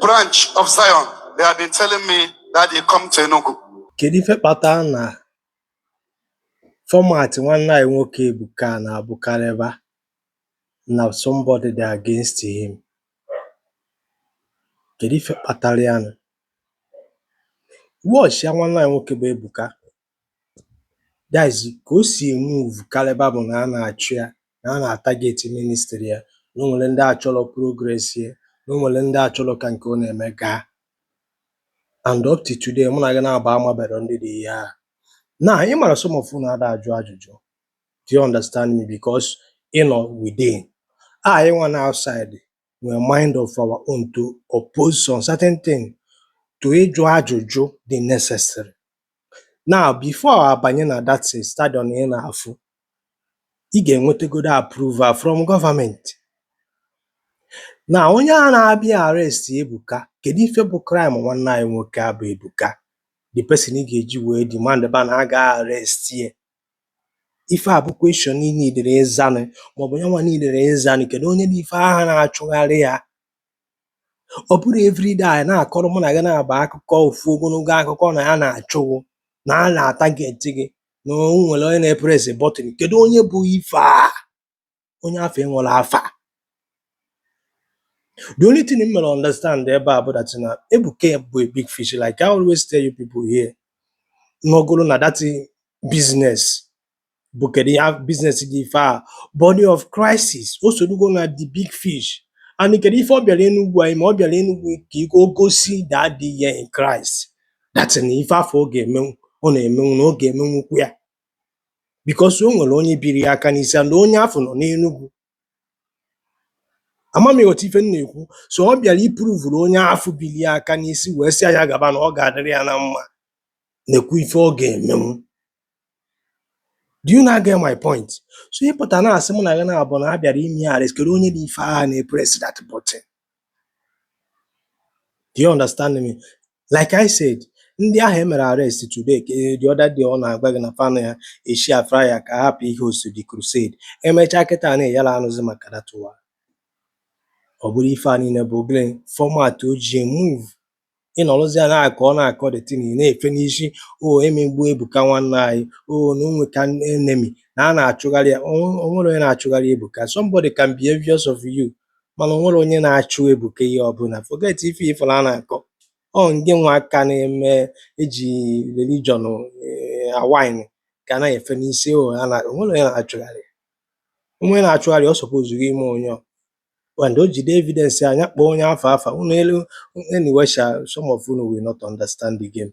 branch of Zion, they have been telling me that they come to Enugu. Kedu ife kpatara na format nwanne anyị nwoke Ebuka na-abụkarịba na somebody dị against him? Kedu ife kpatara ya nụ? Watchịa nwanne anyị nwoke bụ Ebuka That is ka o si emove kalịba bụ na a na-achụ ya na a na-atarget ministry ya na o nwere ndị achọrọ progress ya na o nwere ndị achọrọ ka nke ọ na-eme gaa and up to today mụ na gị naabọ amabero ndị dị ihe ahụ now ị mara some of unu ada ajụ ajụjụ do you understand me because ị nọ within anyị nwa na outside nwere mind of our own to oppose some certain thing to ịjụ ajụjụ dị necessary now before abanye na that stadium ị na-afụ ị ga-enwetagodo approval from government now onye a na-abịa arrest Ebuka kedu ife bụ crime nwanne anyị nwoke a bụ Ebuka the person ị ga-eji wee demand ba na a ga arrest ye Ife a bụ question i neediri ịzanụ maọbụ yanwa neediri ịzanụ. Kedụ onye dị ife ahụ na-achụgharị ya? Ọ bụrụ everyday a na-akọrọ mụ na gị naabọ akụkọ ofu ogologo akụkọ na a na-achụ gị, na a na-atarget gị, na o nwere onye na-epress button. Kedụ onye bụ ife a? onye afụ enwero afa the only thing m mere understand ebe a bụ that na Ebuka bụ a big fish like I always tell you people here na ọ bụrụ na that business bụ kedu ya business dị ife a body of Christ o sorugo na the big fish and kedu ife ọ bịara Enugu a ime ọ bịara Enugu ka o gosi daddy ya in Christ that na ife afụ ọ ga-emenwu ọ na-emenwu na ọ ga-emenwukwu ya because o nwere onye biri ya aka n'isi and onye afụ nọ n'Enugwu ama m ị ghọta ife m na-ekwu so ọ bịara ipruvuru onye afụ biri ya aka n'isi wee sị ya gaba na ọ ga-adịrị ya na mma nekwa ife ọ ga-emenwu do you now get my point so ị pụta na-asị mụ na gị naabọ na a bịara ime ya arrest kedu onye dị ife ahụ na-epress that button Do you understand me? Like I said, ndị ahụ e mere arrest today ka eh, the other day ọ na-agwa gị na fanụ ya eshi afra ya ka hapụ ịhost the crusade emechaa kịta na anyị ada anụzi maka that one ọ bụrụ ife a niile bụ ogele format o ji move ị nọrọzie a na-akọ ọ na-akọ the thing na-efe n'isi o e megbu Ebuka nwanne anyị o na o nwekwa enemy na a na-achụgharị ya o nwe- o nwere onye na-achụgharị Ebuka somebody can be envious of you mana o nwere onye na-achụ Ebuka ihe ọbụla forget ife ị fụrụ a na-akọ ọ ngị nwa ka a na-eme eji religion eh, awine ka na-efe n'isi o a na- o nwere onye na-achụgharị onwe na-achụgharị ọ supposuru ime onye ọ And o jide evidence anya kpọọ onye afọ afa unu elu anyway sha some of unu will not understand the game.